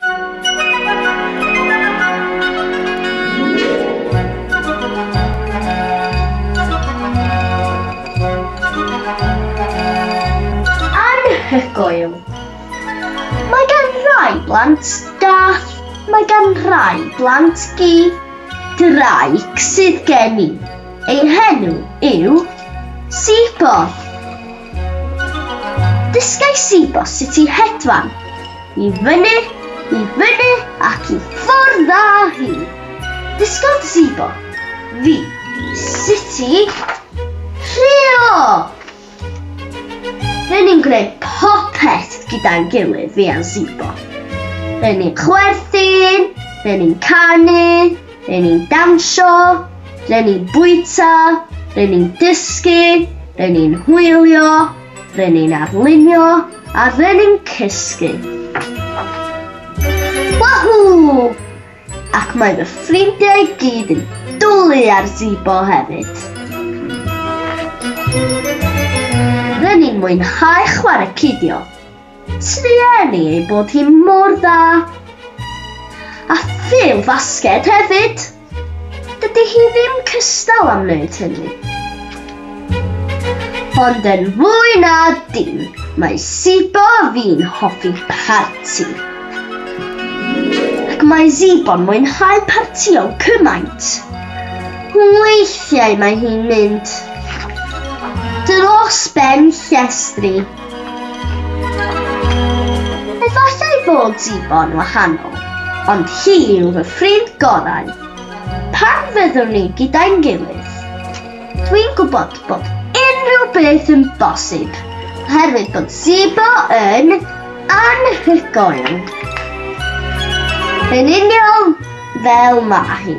Anhygoel! Mae gan rai blant gath, mae gan rai blant gi. Ddraig sydd gen i, ei henw yw Sibo. Dysgai Sibo sut i hedfan. I fyny, i fyny ac i ffwrdd â hi. Dysgodd Zibo fi sut i rheo! Rydyn ni'n gwneud popeth gyda'n gilydd, fi a Zibo. Rydyn ni'n chwerthin, rydyn ni'n canu, rydyn ni'n dawnsio, rydyn ni'n bwyta, rydyn ni'n dysgu, rydyn ni'n hwylio, Ry'n ni'n arlunio a ry'n ni'n cysgu. Wahoo! Ac mae fy ffrindiau i gyd yn dwlu ar Zibo hefyd. Ry'n ni'n mwynhau chwarae cidio. Trueni ni ei bod hi mor dda! A phêl fasged hefyd! Dydy hi ddim cystal am wneud hynny. Ond yn fwy na dim, mae Zibo fi'n hoffi parti. Ac mae Zibo'n mwynhau partio cymaint. Weithiau mae hi'n mynd dros ben llestri. Efallai fod Zibon wahanol, ond hi yw fy ffrind gorau. Pan fyddwn ni gyda'n gilydd, dwi'n gwybod bod unrhyw beth yn bosib oherwydd bod Zibo yn anhygoel, yn union fel mae hi.